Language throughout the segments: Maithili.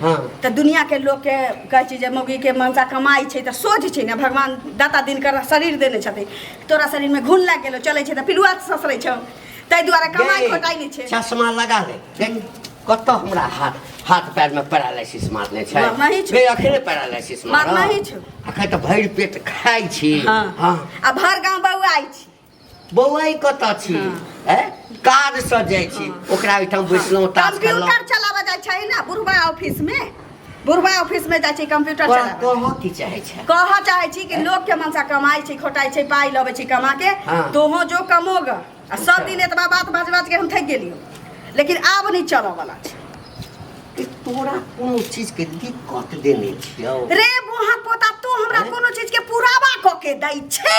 हँ तऽ दुनियाके लोकके कहै छै जे मौगीके मनसा कमाइ छै तऽ सोझ छै ने भगवान दाता दिनकर शरीर देने छथिन तोरा शरीरमे घुन लागि गेलो चलै छै तऽ पिलुआ ससरै छौ ताहि दुआरे कमाइ खोटाइ नहि छै चश्मा लगा ले देख कतऽ हमरा हाथ हाथ पैरमे पैरालाइसिस मारने छै मार नहि छै। बे अखने पैरालाइसिस मार मारऽ। नहि छै। अखन तऽ भरि पेट खाइ छी हँ हँ आ भर गाँव बौआइ छी बौआ ई कतऽ छी हैं काज सँ जाइ छी ओकरा ओहिठाम बैसलहुँ तास खेलहुँ कंप्यूटर चलाबऽ जाइ छै ना बुढ़वा ऑफिस में बुढ़वा ऑफिस में जाइ छै कंप्यूटर तोरा चलाबऽ कहऽ की चाहै छै कहऽ चाहै छी कि लोग के मनसा कमाइ छै खोटाइ छै पाइ लबै छै कमा के हाँ। तोहो जो कमोग आ सब दिन एतबा बात बाज बाज के हम थकि गेलियो लेकिन आब नहीं चलऽ वाला छै कि तोरा कोनो चीज के दिक्कत देने छियौ रे बुढ़ा पोता तू हमरा कोनो चीज के पुरावा क के दै छै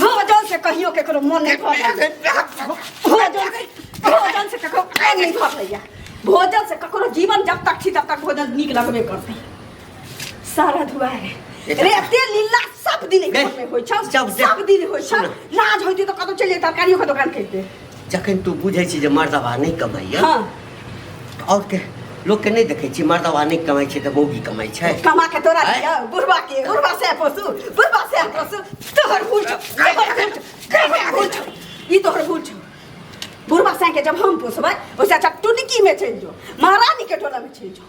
भोजन से कहियो केकरो मन नहीं भर भोजन से भोजन से ककरो कान नहीं भर लैया भोजन से ककरो जीवन जब तक छी तब तक भोजन नीक लगबे करतै सारा दुआरे रे एते लीला सब दिन घर में होइ छ जब- जब- सब दिन होइ छ सुन। लाज होइते त कतौ चलि जाए तरकारियो के दोकान करिते जखन तू बुझै छी जे मर्दवा नहि कमाइए हाँ आओर के लोकके नहि देखै छी मर्दवा नहि कमाइ छै तऽ मौगी कमाइ छै कमा के तोरा आँय? दिया बुढ़वा के बुढ़वा से पोसू बुढ़वा से पोसू तोहर भूल छौ तोहर भूल छौ तोहर भूल छौ ई तोहर भूल छौ बुढ़वा से के जब हम पोसबै ओइसे अच्छा टुनकी में चलि जो महारानी के टोला में चलि जो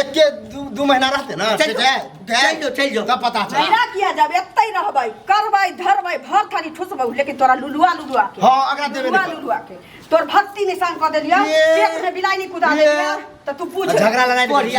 एक के दू दू महीना रहते ना चल से जाओ, जाए जाए चल जाओ, चल जाओ। तब पता चल महीना किया जब एत्ते ही रहबै करबै धरबै भर थारी ठुसबै लेकिन तोरा लुलुआ लुलुआ के हाँ, अगरा देबे लुलुआ नहीं कर। लुलुआ के तोर भक्ति निशान कऽ देलिया ये- पेट में बिलाइनी कुदा ये- देलिया त तू पूछ झगड़ा लड़ाई बढ़िया